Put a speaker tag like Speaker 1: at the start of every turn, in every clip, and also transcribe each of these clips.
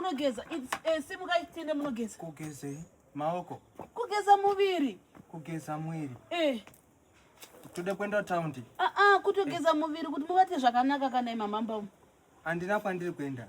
Speaker 1: munogeza eh, simukai tiende munogeza kugezei
Speaker 2: maoko kugeza
Speaker 1: muviri kugeza mwiri
Speaker 2: eh. tode kuenda taundi aa ah, ah, kutogeza eh.
Speaker 1: muviri kuti mubate zvakanaka kana imamamba umu handina kwandiri
Speaker 2: kuenda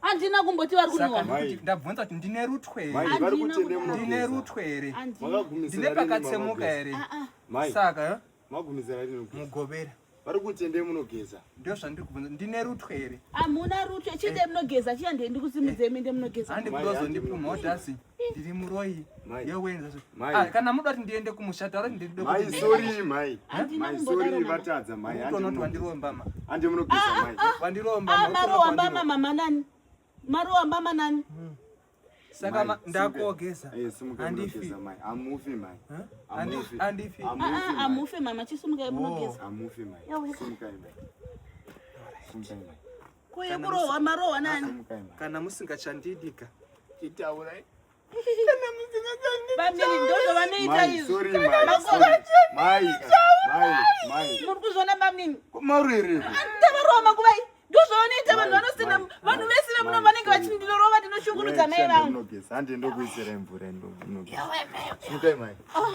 Speaker 2: handina kumboti vari
Speaker 1: kunwa ndabvunza kuti ndine
Speaker 2: rutwe herendine rutwe here ndine pakatsemuka here ah, ah. saka eh?
Speaker 3: mugovera vari
Speaker 2: kuti endei
Speaker 3: munogeza ndio zvandiri kubvunza
Speaker 2: ndine rutwe here hamuna rutwe chinde
Speaker 1: eh. munogeza chiya ndendikusimudzei mende munogeza andikuda uzondipumha udasi
Speaker 2: ndiri muroyi yowenza ah, kana muda kuti ndiende kumusha taura kuti
Speaker 3: ndidovatadza maiutonoti wandirombama
Speaker 2: ande munogeza ah, mai
Speaker 3: ah, wandirombama
Speaker 2: maroambama mama nani
Speaker 1: maroambama nani hmm. saka
Speaker 2: ndakogeza eh, andifi
Speaker 3: amufi mama
Speaker 1: chisumukai
Speaker 3: munogeza Ko yekurohwa
Speaker 1: marohwa nani? Kana
Speaker 2: musingachandidika chitaurai.
Speaker 3: Kana
Speaker 1: musingachandidika. Bamiri ndozvo vanoita
Speaker 3: izvo. Sorry mai. Mai. Mai. Mai. Muri kuzviona
Speaker 1: bamini? Kumarwiri.
Speaker 3: Ndavarohwa makuva
Speaker 1: iyi. Ndozvo vanoita vanhu vanosina vanhu vese vemuno vanenge vachindilorova ndinoshungurudza mai vangu. Handi
Speaker 3: ndokuisira mvura ndinogeza. Yawe mai. Mukai mai. Ah.